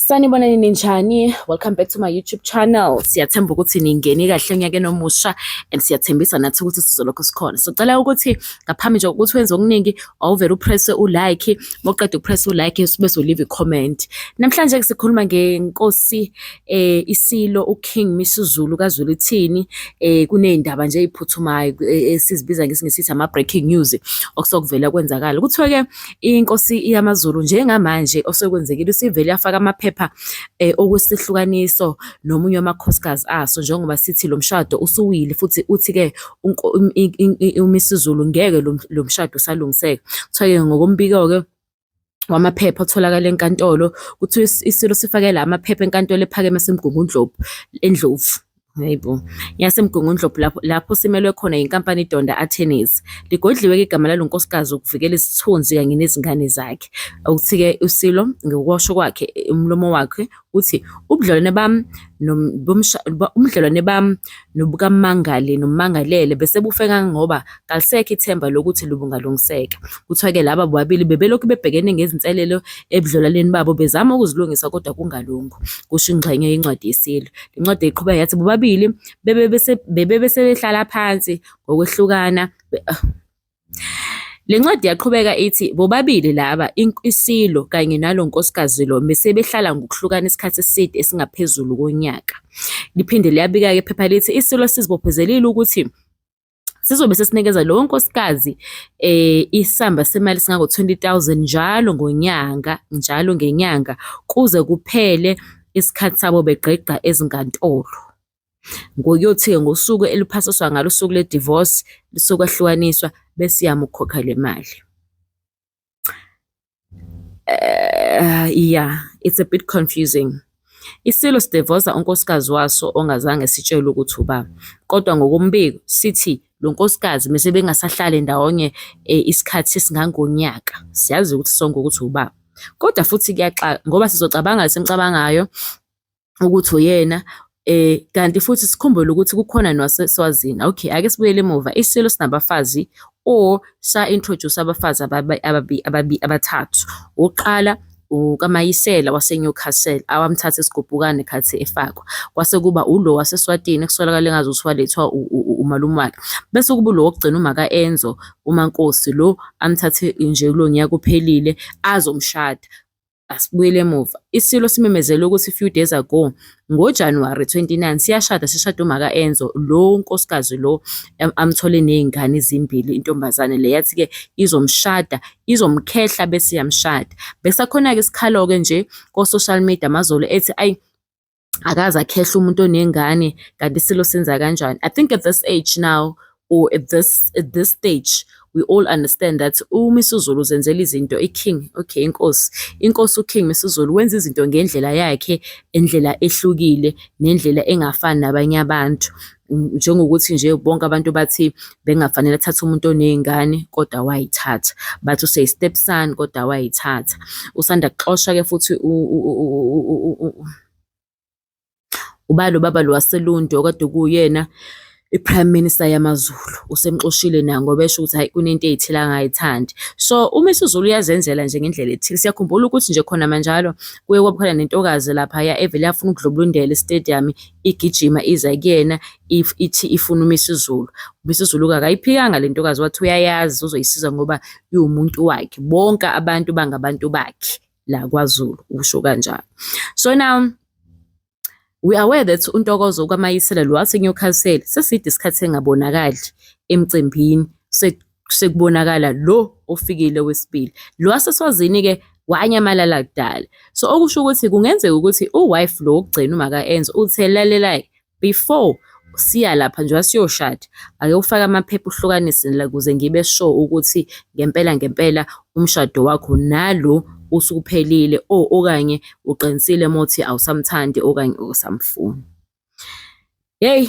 Sanibonani ninjani? Welcome back to my YouTube channel. Siyathemba ukuthi ningene kahle onyakeni nomusha and siyathembisa nathi ukuthi sizolokhu sikhona. So cela ukuthi ngaphambi nje ukuthi wenze okuningi awuvele upress ulike, moqeda upress ulike bese uleave comment. Namhlanje sikhuluma ngenkosi eh isilo uKing Misuzulu kaZulu ithini eh kunezindaba nje eziphuthumayo eh, esizibiza ngesingisithi ama breaking news okusokuvela kwenzakala. Kuthiwa ke inkosi yamaZulu njengamanje osekwenzekile isivele yafaka amaphepha eh, okwesihlukaniso nomunye wamakhosikazi aso njengoba sithi lo mshado usuwile futhi uthi-ke uMisizulu ngeke lo mshado usalungiseka kuthiwa-ke ngokombiko-ke wamaphepha otholakala enkantolo kuthiwa isilo sifakela amaphepha enkantolo ephakeme esemgungundlovu endlovu Hayi bo. YaseMgungundlovu lapho, lapho simelwe khona yinkampani iDonda Attorneys. Ligodliwe-ke igama lalo nkosikazi ukuvikela isithunzi kanye nezingane zakhe. Okuthi-ke uSilo ngokusho kwakhe umlomo wakhe uthi ubudlelwane bami ubudlelwane bami nobukamangali nomangalele bese bufe kangangoba kalisekho ithemba lokuthi lubungalungiseka. Kuthiwa-ke laba bobabili bebelokhu bebhekene ngezinselelo ebudlelwaneni babo bezama ukuzilungisa kodwa kungalungu, kusho ingxenye yencwadi yeSILO. Le ncwadi iqhubeka yathi bobabili bebe besebehlala phansi ngokwehlukana ah. Le ncwadi yaqhubeka ithi bobabili laba iSILO kanye nalo nkosikazi lo besebehlala ngokuhlukana isikhathi eside esingaphezulu konyaka. Liphinde liyabika-ke iphepha lithi iSILO sizibophezelile ukuthi sizobe sesinikeza lowo nkosikazi eh isamba semali singako 20000 njalo ngonyanga njalo ngenyanga kuze kuphele isikhathi sabo begqigqa ezinkantolo ngokuyothi-ke ngosuku eliphasiswa ngalo usuku le-divorce lisokwahlwaniswa bese iyamukhokha le mali uh, yeah it's a bit confusing isilo sidevoza unkosikazi waso ongazange sitshelwe ukuthi uba kodwa ngokombiko sithi lo nkosikazi mese bengasahlale ndawonye eh, isikhathi sesingangonyaka siyazi ukuthi sonke ukuthi ubaba kodwa futhi kuyaxaka ngoba sizocabanga senicabangayo ukuthi uyena eh kanti futhi sikhumbule ukuthi kukhona nowaseSwazini okay ake sibuyele emuva isilo sinabafazi or sa introduce abafazi ababi ababi abathathu uqala ukaMayisela waseNewcastle awamthatha esigubhukane khathi efakwa kwase kuba ulo waseSwatini ekusolakala engazi ukuthi walethwa umalume wakhe bese kuba lo wokugcina umaka Enzo uMankosi lo amthathe nje kulo nyaka uphelile azomshada Asibuyele emuva. ISilo simemezele ukuthi few days ago ngoJanuwari 29 siyashada sishada umaka Enzo lo nkosikazi lo amthole nezingane ezimbili intombazane le yathi ke izomshada izomkhehla bese yamshada. Besakhona ke sikhalo ke nje ko social media mazolo ethi ayi akaze akhehle umuntu onengane kanti isilo senza kanjani i think at this age now or at this at this stage we all understand that umisuzulu uzenzela izinto iking okay inkosi inkosi uking misuzulu wenza izinto ngendlela yakhe endlela ehlukile nendlela engafani nabanye abantu njengokuthi nje bonke abantu bathi bengafanele athathe umuntu oney'ngane kodwa wayithatha bathi useyistep son kodwa wayithatha usanda kuxosha-ke futhi uba lo baba lo waselundi okade kuyena i-prime minister yamazulu usemxoshile na ngoba esho ukuthi hayi kunento ey'thile angayithandi so uma isizulu uyazenzela nje ngendlela ethile siyakhumbula ukuthi nje khona manjalo kuye kwabukhona nentokazi laphaya evele yafuna ukudlubulundela istadium igijima iza kuyena if ithi ifuna uMisuzulu. UMisuzulu-ke akayiphikanga le ntokazi wathi uyayazi uzoyisiza ngoba iwumuntu wakhe. Bonke abantu bangabantu bakhe la kwaZulu, usho kanjalo. So now we are aware that uNtokozo kwaMayisela lo waseNewcastle seside isikhathi engabonakali emcimbini sekubonakala lo ofikile wesibili lo waseswazini ke wanyamalala kudala so okusho ukuthi kungenzeka ukuthi uwife lo wokugcina uma ka enza uthe lalela before siya lapha njengoba siyoshada ake ufake amaphepha uhlukanise la kuze ngibe sure ukuthi ngempela ngempela umshado wakho nalo usuphelile o okanye uqinisile mothi awusamthandi okanye usamfuni hey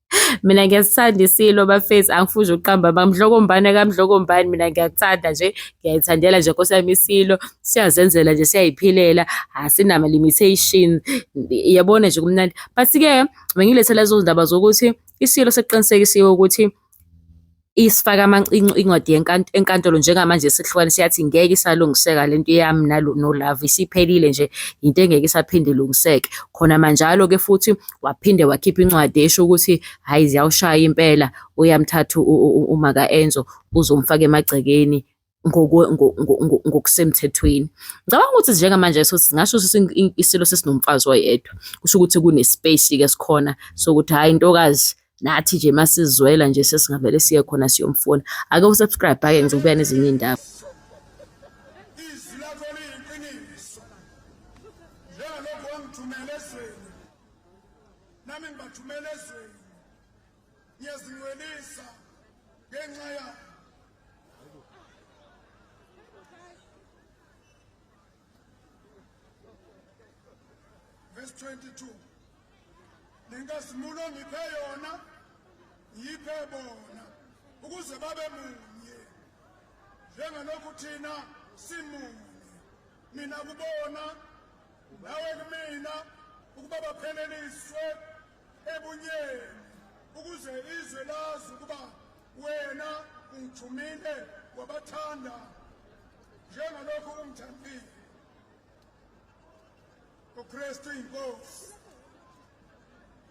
Mina ngiyasithanda iSilo bafethu, angifuni ukuqamba amanga. Mdlokombane kaMdlokombane mina ngiyakuthanda nje, ngiyayithandela nje Nkosi yami iSilo. Siyazenzela nje, siyayiphilela, asinama-limitation. Yabona nje kumnandi. But-ke bengilethe lezo zindaba zokuthi iSilo sekuqinisekisiwe ukuthi isifaka amancinci incwadi enkantolo njengamanje sihlukanisa yathi ngeke isalungiseka lento yami nalo no love isiphelile nje into engeke isaphinde ilungiseke khona manjalo ke futhi waphinde wakhipha incwadi esho ukuthi hayi ziyawushaya impela uyamthatha umaka Enzo uzomfaka emagcekeni ngokusemthethweni ngicabanga ukuthi njengamanje so singasho ukuthi isilo sesinomfazi oyedwa kusho ukuthi kunespace ke sikhona sokuthi hayi intokazi nathi nje masizwela nje sesingavele siye khona siyomfuna ake usubscribe ake ngizobuya nezinye indaba nami ngibathumela ezweni ngiyazinwelisa ngenxa yakho Verse 22 Ninkazimulo ngiphe yona ngiphe bona ukuze babe munye njengalokhu thina simunye mina kubona nawe kumina ukuba bapheleliswe ebunyeni ukuze izwe lazi ukuba wena ungithumile wabathanda njengalokhu ungithandile ukristu inkosi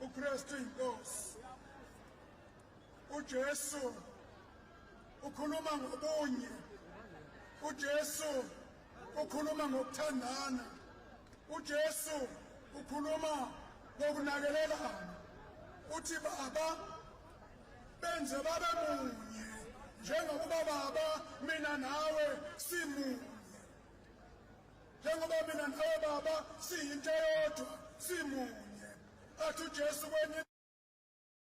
ukristu inkosi ujesu ukhuluma ngobunye ujesu ukhuluma ngokuthandana uJesu ukhuluma ngokunakelelana uthi baba benze babe munye njengokuba baba mina nawe simunye njengoba mina nawe baba siyinto eyodwa simunye athi uJesu kwenye